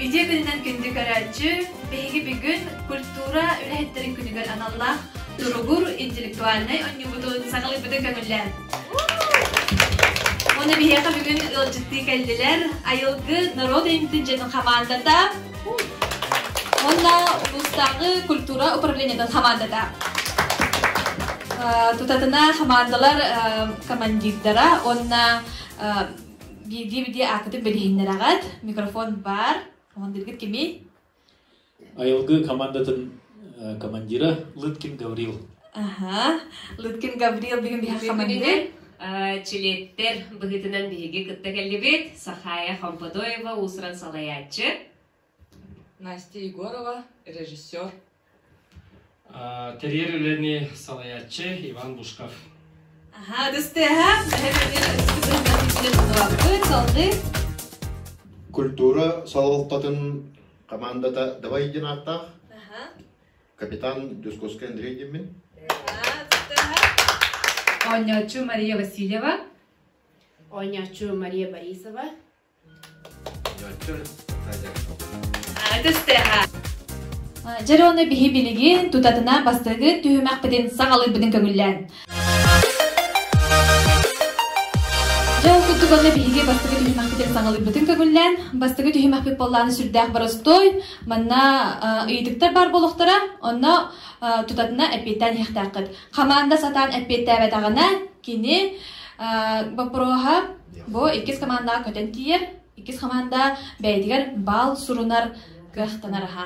Идиэ күнүнэн күндү көрөөччү, биһиги бүгүн культура үлэһиттэрин күнүгэр аналлаах туругур интеллектуальнай онньуубутун саҕалыйбытын көҥүллээн. Ону биһиэхэ бүгүн ыалдьыттыы кэллилэр Айылгы норуот үймтүн дьиэтин хамаандата Уонна улуустааҕы культура управлениетын хамаандата тутатына хамаандалар командирдара уонна биирдии-биирдии аакытын билиһиннэрэҕит микрофон баар командиргит кимий айылгы командатын командира лыткин гаврил Аһа, Лыткин Гаврил бүгүн биһиэхэ маннык чилиэттэр быһыытынан биһиги кытта кэллибит Сахая Хомподоева уусуран салайааччы Настя Егорова, режиссер Тэрийэр үлэни салайааччы Иван Бушков Аха, дыстыаха, Культура салалтатын командата давай динаахтаах Капитан Дюсковский Андрей Демин. Оонньооччу Мария Васильева. Оонньооччу Мария Борисова. Оонньооччу Надя Стеха. Дьэр уонна биһи билигин тутатына бастыгы түһүмэхпитин саҕалыырбытын көҥүллээн Дьэ, ол курдук онно биһиги бастакы түһүмэхпит саҕалыйбытын көгүллээн, бастакы түһүмэхпит буоллаҕына сүрдээх боростуой, манна ыйытыктар баар буолуохтара, онно тутатына эппиэттээн иһэхтээххит. Хамаанда сатаан эппиэттээбэтэҕинэ, кини боппуруоһа бу иккис командаҕа көтөн тиийэр, иккис команда бэйэтигэр баал сурунар кыахтанар аһа.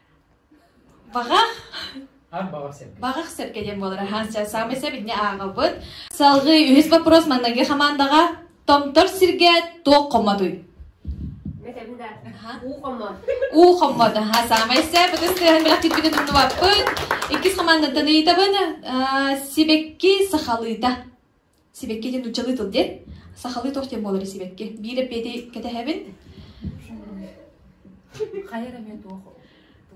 Баҕах Баҕах сэргэ диэн буолар аһаан саамай сэбирдини ааҕабыт. Салгыы үһүс боппуруос манныгы хамаандаҕа Томтор сиргэ туох хоммотуй? Этэбин да. Уу хоммот. Уу хоммот. Аһа саамай сэ бытыс тыаһын бэлэх кирбигин умнубаппыт. Иккис хамаандаттан ыйытабын. Сибэкки сахалыыта. сибэкки диэн нууччалыы тыл диэн сахалыы туох диэн буоларый сибэкки биир эппиэти кэтэһэбин хайа эмэ туох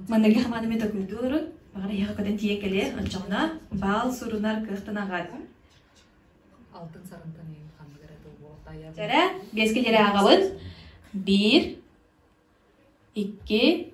манныгы хамаан эмэ токуйдуу олорун баҕар эһиэхэ көтөн тиийэн кэлиэн оччоҕуна баал сурунар кыахтанаҕат алтын сарынтан ханнык эрэ тыл буолтайа жара биэскэ жара аҕабын биир икки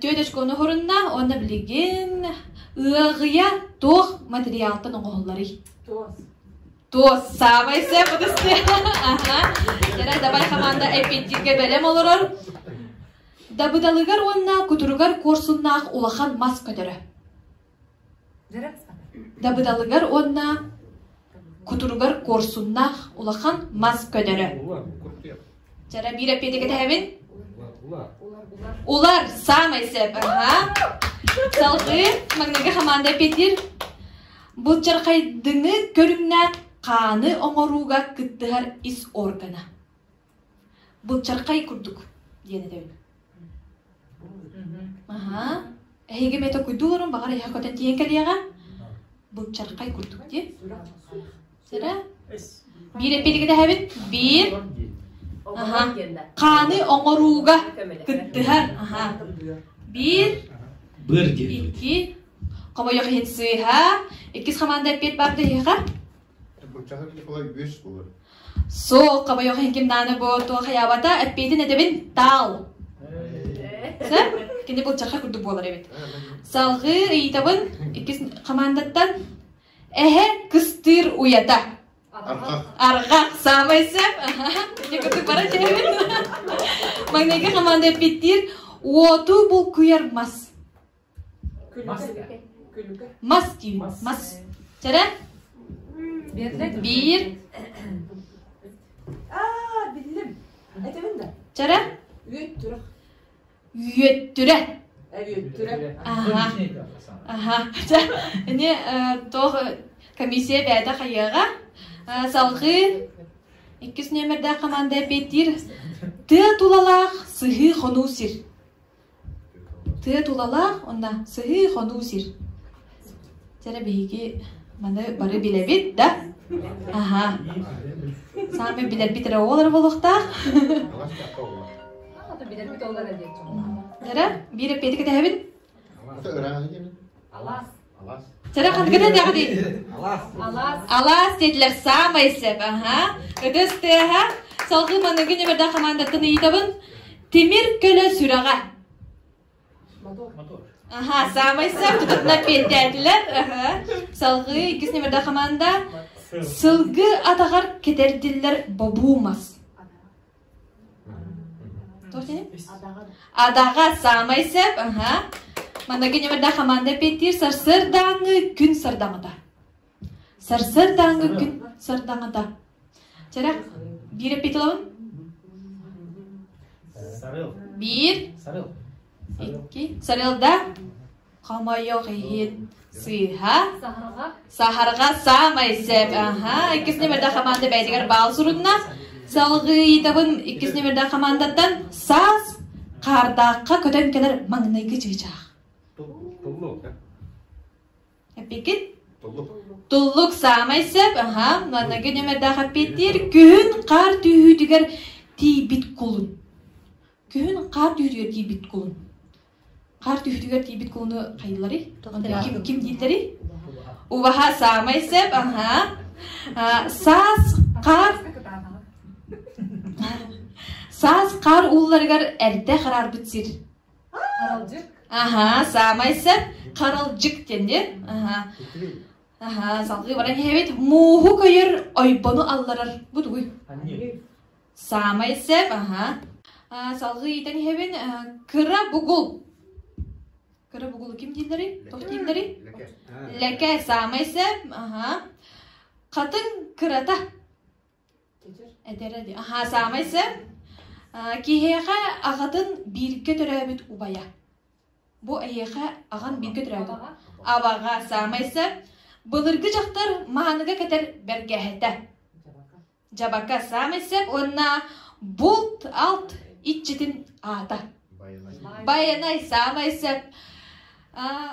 тетечка ону оһорунна уонна билигин ыаҕыйа туох материалтан оҥоһулларый туос саамай сөп ытысты кэрэ давай хамаанда эппиэттииргэ бэлэм олорор дабыдалыгар уонна кутуругар куорсуннаах улахан мас көтөрө Дабыдалыгар уонна кутуругар куорсуннаах улахан мас көнөрө. Чара биир эппиэти кэтэһэбин. Улар саамай сөп. Аха. Салгыы Магнитка хамаанда эппиэтиир былчархайдыҥы көрүҥнээх хааны оҥорууга кыттыһар ис органа. Былчархай курдук диэн этэбин. Аһаа, эһиги метакуйдууларын баҕар эһэ көтөн тиийэн кэлиэҕэ. Былчархай курдук диэн. Сэрэ, биир эппитигидэһэбин. Биир. Аһаа, хааны оҥорууга кыттыһар. Аһаа. Биир. Быр диэн. Iki. Kamu yang swiha, ikis komanda pit bang deh kan? Суох, хобойох хиҥкимнааны бу туох хайаабата, эппиитин эдэбин, таал. Сэр, кини былчахха курдук буолар эбит. Салгыы ыйытабын иккис хамаандаттан эһэ кыстыыр уйата. Арҕах, саамай сэп. Ити курдук бара дьэһэбин. Магнайга хамаанда эппиттиир, уоту булкуйар мас. мас диир мас чэрэ биир чэрэ үөттүрэ аха ини тоох комиссия бээдэ хайыаға салҕыы иккис нөмердээх команда эппиэттиир тыа тулалаах сыһыы хонуу сир Тыа тулалаах уонна сыһыы-хонуу сир. Дьэ биһиги маны бары билэбит да аһа саамай билэрбит эрэ оҕолоро буолуохтаах билэрбит оҕолоро диэн эрэ биир эппиэти кэтэһэбин алаас Сара ханкыта дәҕди? Алас. Алас диэтилэр саамай сөп. Аха. Ытыс тыаха. Салгы манныгын эбэрдэ командаттан ыйытабын. Тимир көлө сүрэҕэ. Мотор. Аха, саамай сөп тутутна пиэтээтилэр. Салгы иккис нөмірді команда. Сылгы атағар кетердиллер бабумас. Адаҕа саамай сөп аха маныгы ньымада хамаанда петтиир сарсыардааҥы күн сардаҥата сарсыардааҥы күн сардаҥата чэрэх биир эпиталабын биир сарыл икки сарыл да Хомойуох иһин, сыыһа саһарга саамай сөп. Аха, иккис нөмөрдөөх хамаанда бэйэтигэр баал сурунна. Салгыытабын иккис нөмөрдөөх хамаандаттан саас хаардаахха көтөн кэлэр маҥнайгы чыычаах. Туллук, да? Эппикит? Туллук. Туллук саамай сөп, аха, манныгы нөмөрдөөх эппиэттиир күһүн хаар түүһүүтүгэр тиийбит кулун. Күһүн хаар түүһүүтүгэр тиийбит кулун. Хаар түһүтүгэр тиийбит кууну хайыылары? Ким, ким дииллэри? Убаха саамай сэп, аха. Саас хаар Саас хаар уулларыгар эрдэ хараарбыт сир. Харалдьык. Аха, саамай сэп харалдьык диэнди. Аха. Аха, салгыы баран иһэбит. Мууһу көйөр ойбону алларар. Бу тугуй? Саамай сэп, аһа. Аа, салгыы иитэн иһэбин. Э, кыра бугул. Кыра бугулу ким дииллэрий? Туох дииллэрий? Леке саамай сэп, аһа. Хатын кырата. Эдэрэ ди. Аха, саамай сэп. Э, Киһиэхэ аҕатын бииргэ төрөөбүт убайа. Бу эһиэхэ аҕан бииргэ төрөөбүт. Абаҕа саамай сэп. Былыргы дьахтар мааныга кэтэр бэргэһэтэ. Дьабака саамай сөп уонна булт-алт иччитин аата. Байанай саамай сөп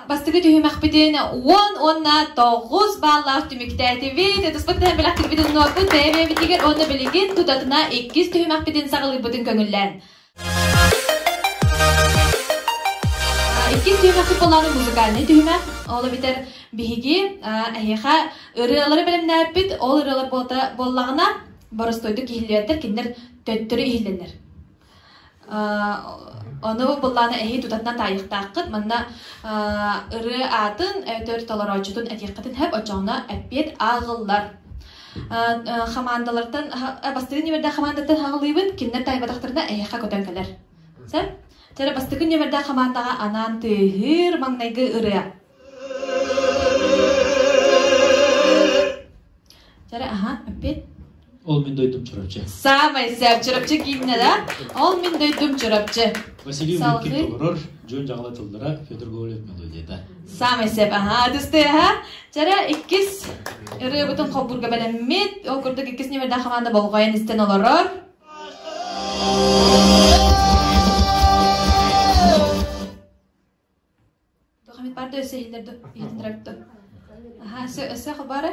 бастакы түһүмэхпитин уон уонна тоҕус бааллаах түмүктээтибит ытыспыттан бэлэхтикпитин нуорпут бэйэ-бэйэбитигэр уонна билигин тутатына иккис түһүмэхпитин саҕалыырбытын көҥүллээн Иккис дьиэҕэхи буолаары музыкальнай түһүмэ. Ол эбитэр биһиги эһиэхэ ырыалары бэлэмнээппит. Ол ырыалар буоллаҕына боростойду киһилиэрдэр кинилэр төттөрү иһиллэннэр. Ону быллаана эһии тутатынан таайыктааххыт. Манна ырыы аатын эбэтэр толорооччутун этиэххитин сөп, оччоҕуна эппиэт ааҕыллар. хамаандалартан бастакы нөмэрдээх хамаандаттан хаҕылыыбын кинилэр таайбатахтарына эһиэхэ көтөн кэлэр сөп тэр бастакы нөмэрдээх хамаандаҕа анаан тыыһыыр маҥнайгы ырыа Жары, аха, опять. Ол мен дойдум чурапчы. Самый сәп чурапчы киинне да? Ол мен дойдум чурапчы. Василий Улюкин олорор. дьон-дьаҕала тыллара Федор Говорит мелодията. Саамай сеп, аһаа, дысты, аһаа. Жара иккис ырыабытын хоббурга бэлэммит. Ол курдук иккис нөмірден хамаанда болғайын истен олорор. Дохамит барды өсө хилдерді, хилдерді. Аха, сө өсө хабары.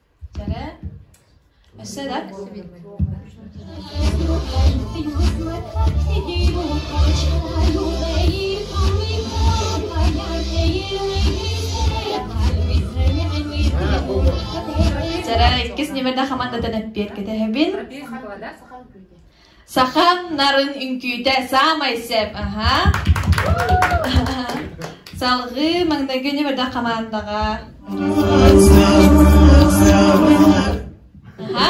иккис ньимирдэ хаман да тэн эппиэр кэтэһэбин Саха нарын үҥкүүтэ саамай сэп, аха. Салгыы маҥнайгы нөмөрдөх хамаандаҕа. Аха.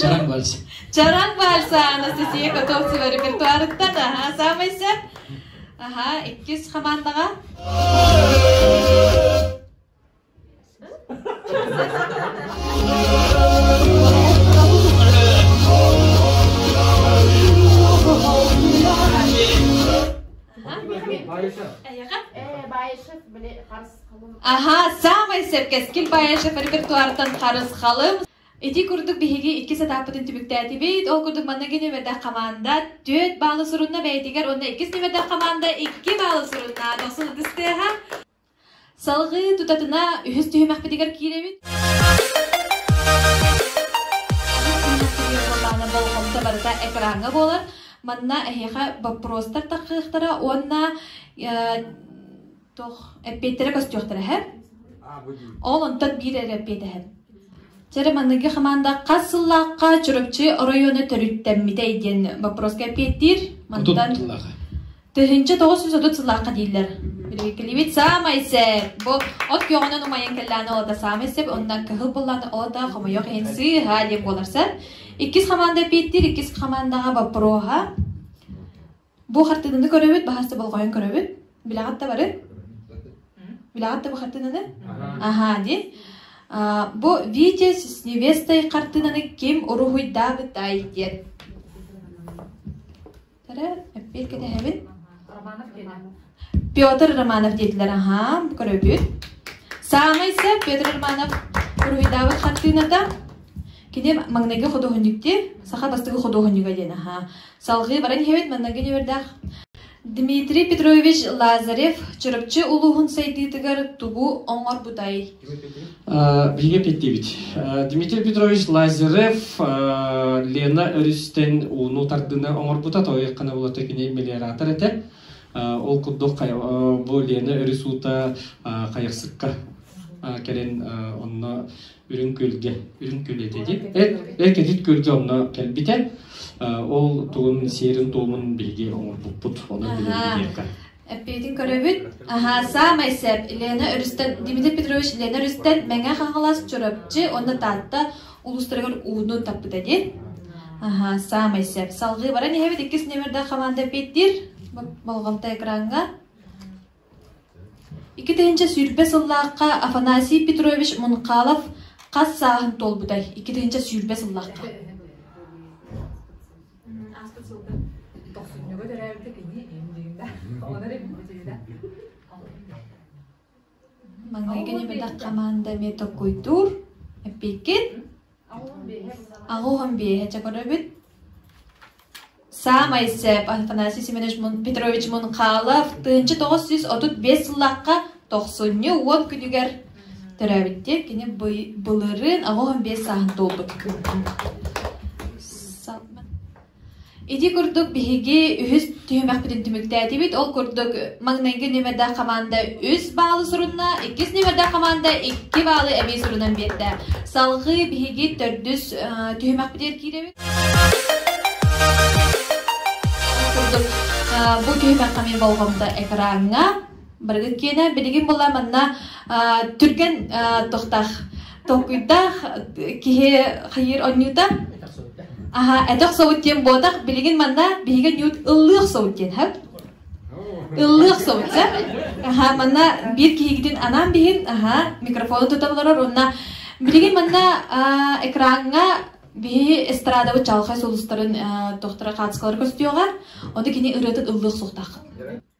Чараҥ вальс. Чараҥ вальсаана сисие готов сива репертуарыттан, аха, саамай сэп. Аха, иккис хамаандаҕа. Аха, саамай сэргэскил Баешев репертуартан харысхалым. Ити курдук биһиги икки сатааппытын түбүктээтибит. Ол курдук манныгы нөмердэх команда түөрт баалы сурунна бэйэтигэр уонна иккис нөмердэх команда икки баалы сурунна. Дохсун ытыстыаха. Салгыы тутатына үһүс түһүмэхпитигэр киирэбит. болҕомто барыта экраҥҥа буолар. Манна эһиэхэ боппуруостар тахсыахтара уонна туох эппиэттерэ көстүөхтэрэ эһэр. Ол онтон биир эрэ эппиэт эһэр. Чэрэ манныгы хамаанда хас сыллаахха Чурапчы оройуона төрүттэммитэй диэн боппуруоска эппиэттиир. Мантан Тыһыынча тоҕус сүүс отут сыллаахха дииллэр. Билигикилибит саамай сеп. Бу от күөҕүнэн умайан кэллэҕинэ олата саамай сеп, оннан кыһыл буллаҕына олата хомойох иһин сыыһа диэн буоларсар. Иккис хамаанда эпииттир, иккис хамаандаҕа боппуруоһа. Бу хартыынаны көрөбүт, баһасты болҕойон көрөбүт. Билэҕит да бары? Билэҕит да бу хартыынаны? Аха диэн. Бу Витя с невестой хартыынаны ким уруһуйдаабытай диэн. Эрэ, эппиэр кэтэһэбин. Петр Романов диэтилэр, аһаан, көрөбүт. Саамай сөп Петр Романов уруһуйдаабыт хартыыната. Кини маҥнайгы худуоһунньуктир, саха бастыгы худуоһунньуга диэн аһаа. Салгыы баран иһэбит маннайгы ньүөрдээх. Дмитрий Петрович Лазарев Чурапчы улууһун сайдыытыгар тугу оҥорбутай? Биһиги эппиэттиибит. Дмитрий Петрович Лазарев Лена өрүстэн ууну тардыыны оҥорбута, той хана булата киней мелиоратор этэ. Ол курдук бу Лена өрүс уута хайахсыкка кэлэн онно үрүҥ күөлгэ үрүҥ күөл этэ ди эр кэтит күөлгэ онно кэлбитэ ол тугун сиэрин туомун биһиги оҥорбуппут онон билэрбит диэххэ Эппиэтин көрөбүт. Аһаа, саамай сөп. Лена өрүстэн, Дмитрий Петрович Лена өрүстэн Мэҥэ Хаҥалас, Чурапчы уонна Таатта улуустарыгар ууну таппыта дии. Аһаа, саамай сөп. Салгыы баран иһэбит иккис номердаах команда эппиэттиир болҕомто экраҥҥа. Икки тыһыынча сүүрбэ сыллаахха Афанасий Петрович Мунхалов хас сааһын туолбутай? Икки тыһыынча сүүрбэ сыллаахха. ааспыт сылга тохсунньуга төрөөбүтэ кини индиина оҕолор индиина Маҥнай кэлбэтэх команда эмиэ токуйдуур эппиккит аҕуһун биэһэ чакырабыт саамай сээп Афанасий Семенович Петрович Мунхалов тыынча тоҕус сүүс отут биэс сыллахха тохсунньу уон күнүгэр Төрөөбүттэр кини былырыын оҕом биэс сааһын туолбут Ити курдук биһиги үһүс түһүмэхпитин түмүктээтибит. Ол курдук маҥнайгы ньүмэрдээх хамаанда үс баалы сурунна, иккис ньүмэрдээх хамаанда икки баалы эбии сурунан биэрдэ. Салгыы биһиги төрдүс түһүмэхпитигэр киирэбит. Бу түһүмэх хамыйын болҕомто экраҥҥа Барыгын киэнэ билигин була манна түргэн тохтах толкуйдаах киһи хайыыр онньуута аха этох собут диэн буотах билигин манна биһиги ньуут ыллыах собут диэн һэп ыллыах собут сэ аха манна биир киһигитин анаан биһин аха микрофону тута олорор онна билигин манна экраҥҥа биһи эстрадабы чалхай сулустарын тохтора кацкалары көстүөҕа ону кини ырыатын ыллыах суохтаах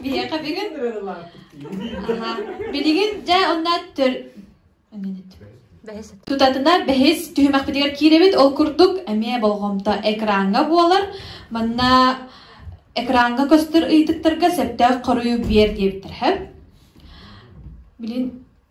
Биһиэхэ билигин билигин дьэ онно төр тутатына бэһис түһүмэхпитигэр киирэбит ол курдук эмиэ болҕомто экраҥҥа буолар манна экраҥҥа көстөр ыйытыктарга сөптөөх хоруй биэр диэбиттэр хэп билин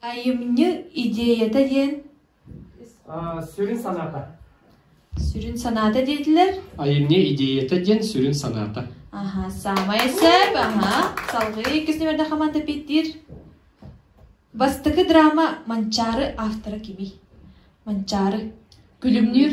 Айымньы идеята диэн сүрүн санаата. Сүрүн санаата диэтилэр. Айымньы идеята диэн сүрүн санаата. Аха, саамай сөп, аха. Салгыы иккис нөмөрдө хамаанда питтиир. Бастакы драма Манчаары автора кимий? Манчаары. Күлүмнүүр.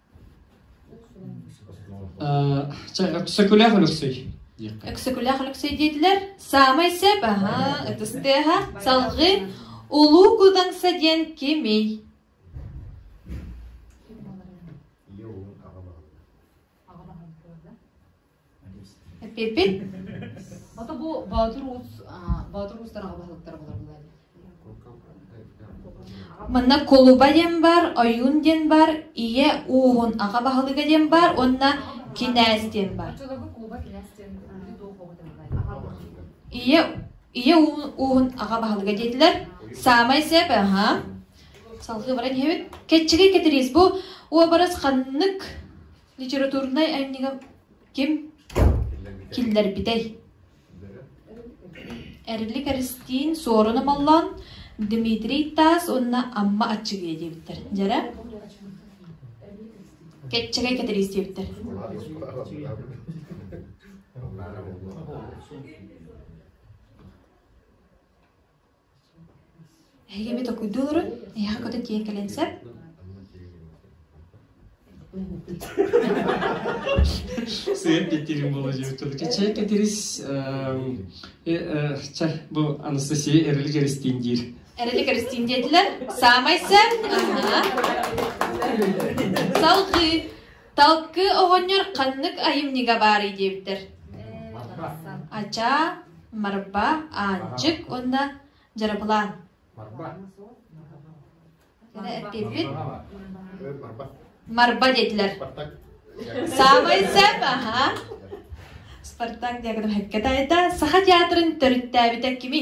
Өксөкүлээх Өлөксөй диэххэ. Өксөкүлээх Өлөксөй диэтилэр. Саамай сөп, аһаа, ытыс тыаһа, салгыы Улуу Кудаҥса диэн кимий? Ийэ уолун аҕа баһылыга. Эппиппит Ото бу Боотур Ууц Боотур Уустан аҕа баһылыктара буларбылар Манна кулуба диэн бар, ойуун диэн бар, ийэ ууһун аҕа баһылыга диэн бар уонна кинээс диэн бар. Ийэ ийэ ууһун аҕа баһылыга диэтилэр. Саамай сеп, аха. Салхыы баран иһэбит. Кэччигэй кэтириис бу уобарас ханнык Литературнай анньыга ким киллэрбитэй? Эрилик Эристиин Суоруна Моллоон, Дмитрий Таас уонна Амма Аччыгыйа диэбиттэр. Дьэрэ? Кэччэгэй Кэтириис диэбиттэр. Эһиги эми токуйдуу олорон, эһиэхэ көтөн тиийэн кэлэн сөп. Сыыр кэтирин болодьур чача кэтирис ча бу Анастасия эрели Кристин диир. Эрели Кристин диэтилэр. Саамай сөп. Салгыы. Талкыы оҕонньор ханнык айымньыга баарый диэбиттэр. Ачаа, Марба, Аанчык уонна Дьарапылаан. Кини эппиэппит Марба диэтилэр. Саамай сэп, аха. Спартак диаграм хеккетайда Саха театрын төрүттээбитэ кими?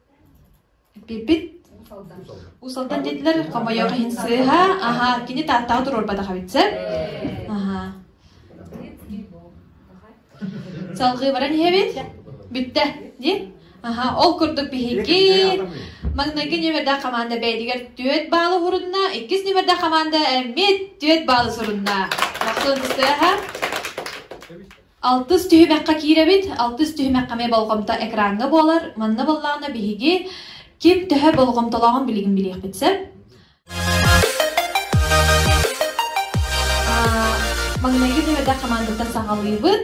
Эппиппит Уус-Алдан диэтилэр, хомойуох иһин сыыһа, аһа, кини Тааттаҕа туруорбатах эбит сөп. Аһа. Салгыы баран иһэбит. Бүттэ, ди. Аха, ол курдук биһиги маҥнайгы нөмердээх хамаанда бэйэтигэр түөрт баалы сурунна, иккис нөмердээх хамаанда эмиэ түөрт баалы сурунна. Махсуун сыыһа. Алтыс түһүмэххэ киирэбит. Алтыс түһүмэххэ эмиэ болҕомто экраҥҥа буолар. Манна буоллаҕына биһиги ким төһө болҕомтолооҕун билигин билиэхпит сөп. Маҥнайгы нүөдэ хамаандаттан саҕалыыбыт.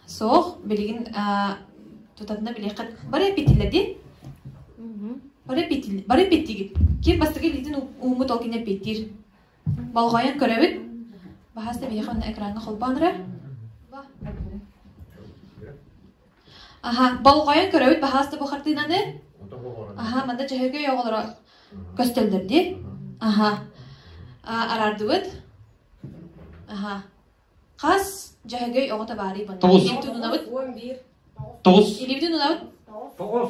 Суох, билигин тутатына билиэххит. Бары эпитилэ ди? Бары эпитигит. Ким бастакы билгитин ууммут ол кини эпитир. Болҕойон көрөбүт, баһаас эбиэхэ уонна экраҥҥа холбоон эрэр. Аһа, болҕойон көрөбүт, баһаас да бу хартыынаны. Аһа, манда Чөһөгөй оҕолоро көстөллөр дии. Аһа, араардыбыт. Аһа, хас Чөһөгөй оҕото баарый бу? Тоҕус. Илибитин унабыт. Тоҕус. Илибитин унабыт. Тоҕус.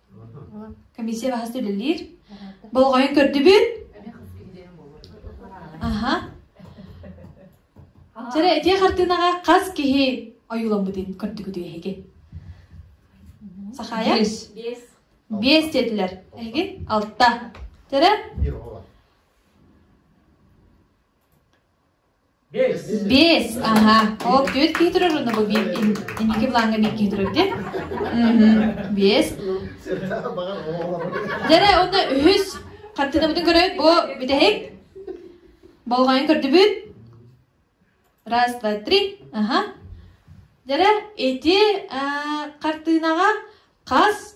комиссия баһаста үлэлиир болҕойон көрдүбүт аха дьара итиэ хартыынаҕа хас киһи ойууламмытын көрдүгүтүй эһиги сахаайа бес диэтилэр эһиги алта дьара Бес, ага. Ол түөрт киһи турар уонна бу биир инники плаҥҥа биир киһи турар диэн. Бес. Дьэрэ уонна үһүс. Хартыынабытын көрөөт бу бүтэһик. Болҕойон көрдүбүт. Раз, два, три. Ага. Дьэрэ ити хартыынаҕа хас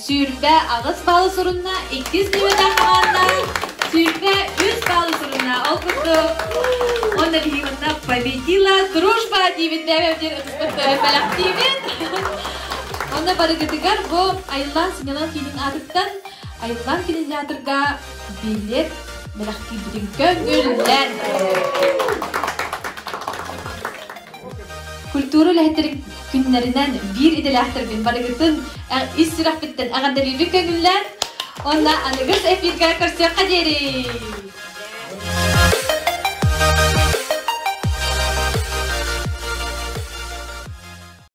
сүүрбэ аҕыс балл сурунна, иккис ньүөтэ хамаанда сүүрбэ үс балл сурунна. Ол курдук уонна биһиги манна победила дружба диэбит бэйэбдир ыксыктарын бэлэхтиибит. Онно барыгытыгар бу Айлан сынньалаҥ киинин аатыттан Айлан кинотеатрга билет бэлэхтиирбитин көннүллэн. Культура үлэһиттэрин күннэринэн биир идэлээхтэрбин барыгытын ис сүрэхпиттэн эҕэрдэлиибин көҥүллээн уонна аныгыс эфиргэ көрсүөххэ диэри.